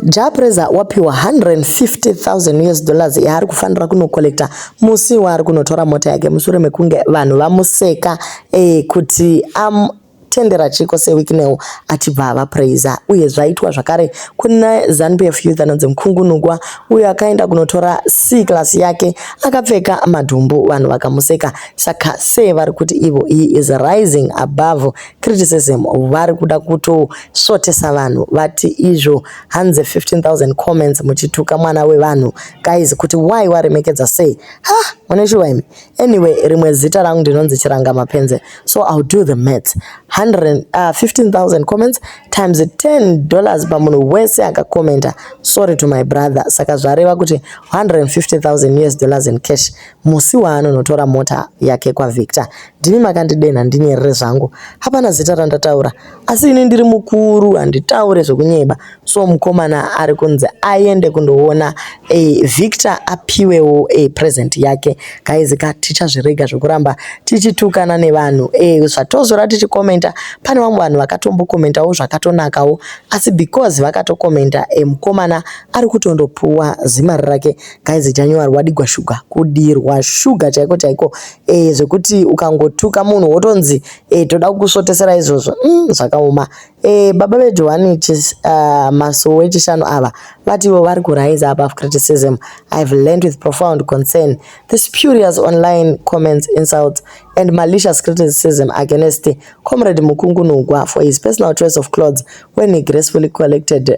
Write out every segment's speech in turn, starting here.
Jah Prayzah wapiwa 150,000 us dollars yaari kufanira kunocollecta musi waari kunotora mota yake mushure mekunge vanhu vamuseka eh, kuti am tendera chiko sewikinewo achibva ava praiser uye zvaitwa zvakare kuna zanupf youth anonzi mukungunugwa uyo akaenda kunotora c class yake akapfeka madhumbu vanhu vakamuseka saka se vari kuti ivo he is rising above criticism vari kuda kutosvotesa vanhu vati izvo hanzi 15000 comments muchituka mwana wevanhu guys kuti why waremekedza sei ha mune shuwa imi anyway rimwe zita rangu ndinonzi chiranga mapenze so ill do the maths 15000 uh, comments times 10 dollars pamunhu wese akakomenta sorry to my brother saka zvareva kuti 150000 us dollars in cash Musi waanonotora mota yake kwaVictor ndimi makandidenha ndinyerere zvangu. Hapana zita randataura asi ini ndiri mukuru handitaure zvekunyeba so mukomana ari kunzi aende kundoona e, Victor apiwewo e, present yake. Guys ka tichazvirega zvekuramba tichitukana nevanhu e, zvatozora tichikomenta pane vamwe vanhu vakatombokomentawo zvakatonakawo asi because vakatokomenta e, mukomana ari kutondopuwa zimari rake Guys chanyowa rwadigwa sugar kudirwa sugar chaiko chaiko eh zvekuti ukangotuka munhu wotonzi eh toda kukusvotesera izvozvo mm, zvakaoma eh baba vedu vane uh, masowe echishanu ava vativo vari kurise above criticism i have learned with profound concern the spurious online comments insults and malicious criticism against comrade mukungunugwa for his personal choice of clothes when he gracefully collected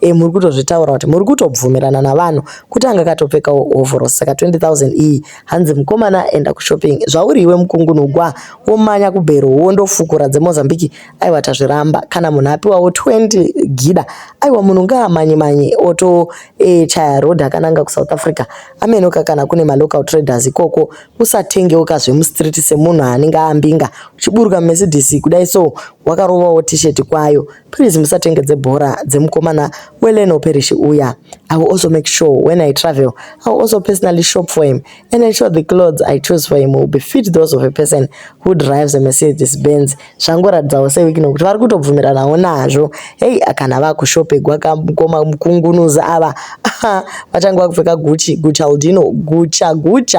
e muri kutozvitaura kuti muri kutobvumirana navanhu kuti anga katopfekawo hovhorosi saka 20000 iyi hanzi mukomana enda kushopping zvauri iwe mukungunugwa womanya kubhero wondofukura dzemozambique aiwa tazviramba kana munhu apiwawo 20 gida aiwa munhu ngaamanye manye oto e, chaya road akananga kusouth africa amenoka kana kune malocal traders ikoko usatengewo kazvemustreet semunhu anenge ambinga uchiburuka mumesidisi kudai so wakarovawo t-shirt kwayo Please musatenge dzebhora dzemukomana weLeno Parish uya. I will also make sure when I travel, I will also personally shop for him and ensure the clothes I choose for him will be fit those of a person who drives a Mercedes Benz. Zvangoratidzawo sewiki nokuti vari kutobvumiranawo nazvo. Hey, kana vakushopegwa kamukoma mukungunuzi ava. Vachange vakupfeka Gucci, Gucci Aldino, Gucci Gucci.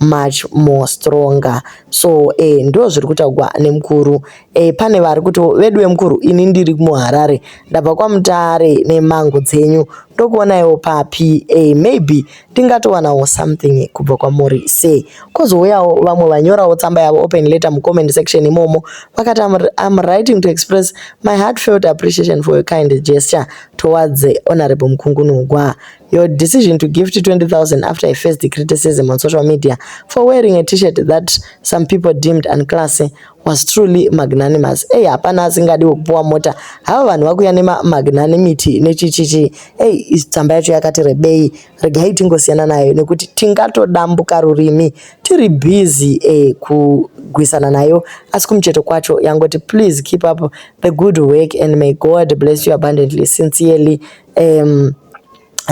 much more stronger so eh, ndo zviri kutaugwa nemukuru eh, pane vari kuti veduwe mukuru ini ndiri muharare ndabva kwamutare nemango dzenyu ndokuonaiwo papi eh, maybe ndingatowanawo something kubva kwamuri se kozouyawo vamwe vanyorawo tsamba yavo open letter mucomment section imomo vakati I'm, I'm writing to express my heartfelt appreciation for your kind gesture towards honorable mukungunugwa Your decision to gift 20,000 after I faced the criticism on social media for wearing a t-shirt that some people deemed unclassy was truly magnanimous. Hey, hapana asingadi kupuwa mota. Hava vanhu vakuya nema magnanimity nechichichi. Hey, tsamba yacho yakati rebei. Regai tingosiyana nayo nekuti tingatodambuka rurimi tiri busy eh, kugwisana nayo asi kumucheto kwacho yangoti please keep up the good work and may God bless you abundantly sincerely um,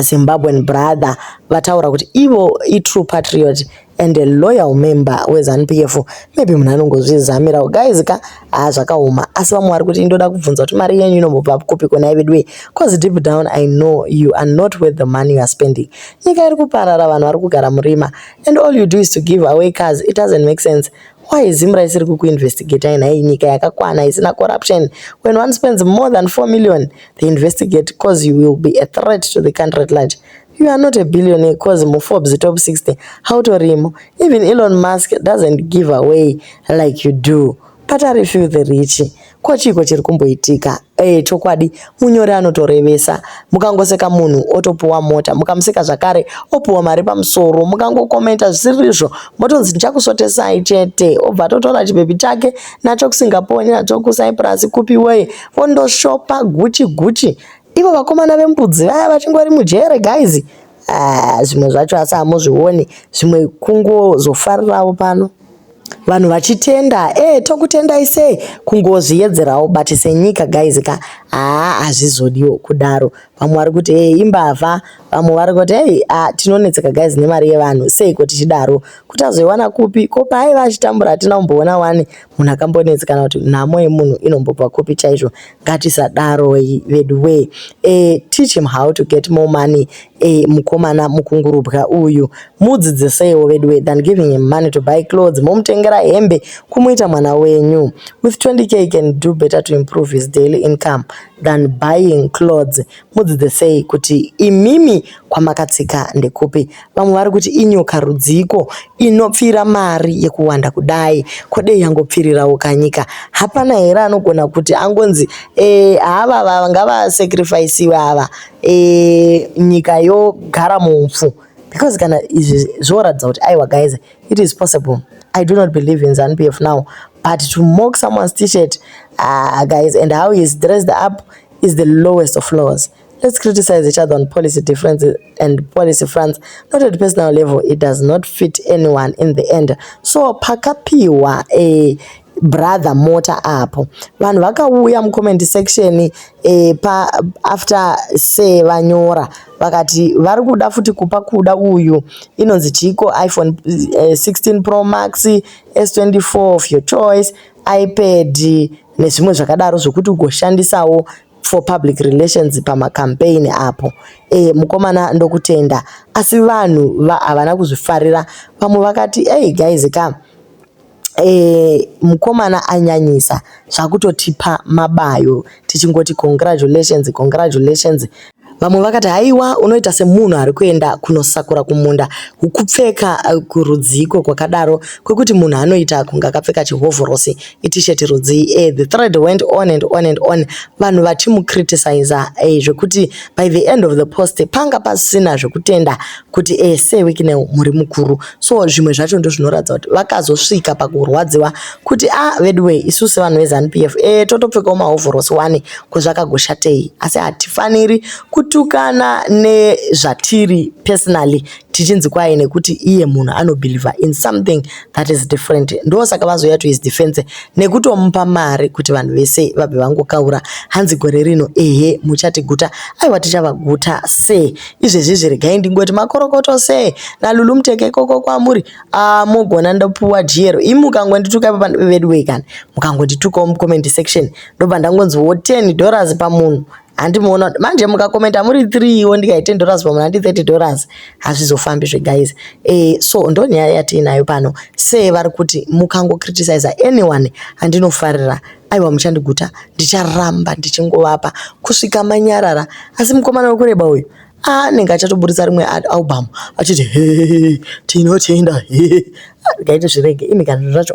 zimbabwean brother vataura kuti ivo itrue patriot and a loyal member wezanu p f maybe munhu anongozvizamirawo guys ka haa zvakaoma asi vamwe vari kuti ndoda kubvunza kuti mari yenyu inombobva kupi konai veduwe cause deep down i know you are not worth the money you are spending nyika iri kuparara vanhu vari kugara murima and all you do is to give away cars it doesn't make sense why zimra isiri kukuinvestigatai nhai nyika yakakwana isina corruption when one spends more than 4 million they investigate cause you will be a threat to the country at large you are not a billionaire cause muforbes top 60 hautorimo even elon musk doesn't give away like you do but are few the rich ko chiiko chiri kumboitika e, chokwadi munyori anotorevesa mukangoseka munhu otopuwa mota mukamuseka zvakare opuwa mari pamusoro mukangokomenta zvisirizvo motonzi ndichakusotesai chete obva atotora chibebi chake nacho kusingaponi nacho kusaipurasi kupi weye Kondoshopa gucci gucci. Ivo vakomana vembudzi vaya vachingori mujere guys. Ah, zvimwe zvacho asi hamuzvioni. Zvimwe kungozofarirawo pano. Vanhu vachitenda, eh tokutendai sei kungozviyedzerawo but senyika guys ka ah hazvizodiwo kudaro. Vamwe vari kuti eh imbavha. Vamwe vari kuti hey, ah, tinonetseka guys nemari yevanhu seiko tichidaro kuti azoiwana kupi ko paaiva achitambura hatina kumboona wani munhu akambonetsi kana kuti nhamo yemunhu inombobva kupi chaizvo ngatisadaroi vedu wee e, teach him how to get more money e, mukomana mukungurubwa uyu mudzidziseiwo vedu wee than giving him money to buy clothes momutengera hembe kumuita mwana wenyu with 20k can do better to improve his daily income than buying clothes mudzidzisei kuti imimi kwamakatsika ndekupi vamwe vari kuti inyoka rudziiko inopfira mari yekuwanda kudai kodei yangopfirirawo kanyika hapana here anogona kuti angonzi e, hava vava ngavasacrificiwe ava e, nyika yogara mupfu because kana izvi zvoratidza kuti aiwa guys it is possible i do not believe in zanupf now but to mock someone's t-shirt uh, guys and how he is dressed up is the lowest of lows. Let's criticize each other on policy differences and policy fronts, not at personal level. It does not fit anyone in the end. So pakapiwa a brother mota apo vanhu vakauya mucomment section e, pa after se vanyora vakati vari kuda futi kupa kuda uyu inonzi chiko iphone e, eh, 16 pro max s24 of your choice iPad nezvimwe zvakadaro zvokuti ugoshandisawo for public relations pamacampaign apo e, mukomana ndokutenda asi vanhu havana va, kuzvifarira vamwe vakati hey guys ka e, mukomana anyanyisa zvakutotipa mabayo tichingoti congratulations congratulations vamwe vakati haiwa unoita semunhu ari kuenda kunosakura kumunda hukupfeka eh, kurudziiko kwakadaro kwekuti munhu anoita kunge akapfeka chihovhorosi itisheti rudzii e the thread went on and on and on vanhu vachimucriticiza e eh, zvekuti by the end of the post panga pasina zvekutenda kuti e eh, sewikinel muri mukuru so zvimwe zvacho ndozvinoratidza kuti vakazosvika pakurwadziwa kuti a ah, veduwee isu sevanhu vezanup f e totopfekawo mahovhorosi wani kwezvakagoshatei asi hatifaniri kutukana nezvatiri personally tichinzi kwaye nekuti iye munhu anobhilivha in something that is different ndo saka vazoya to his defense nekutomupa mari kuti vanhu vese vabve vangokaura hanzi gore rino ehe muchatiguta aiwa tichavaguta se Izvezvizvi regai ndingoti makorokoto se naLulu muteke koko kwamuri ah mogona ndopuwa jero imi mukangondituka ipa veduwee kana mukangonditukawo mucomment section ndobva ndangonziwo 10 dollars pamunhu handi muona kuti manje mukakomenta muri 3 iwo ndikai 10 dollars pamunhu handi 30 dollars hazvizofambi zve guys eh, so ndonyaya yatiinayo pano se vari kuti mukangocriticiza anyone handinofarira Aiwa muchandiguta ndicharamba ndichingovapa kusvika manyarara asi mukomana wekureba uyu ah, anenge achatoburitsa rimwe album achiti he tinotenda he gaite zvirege imi kana zvacho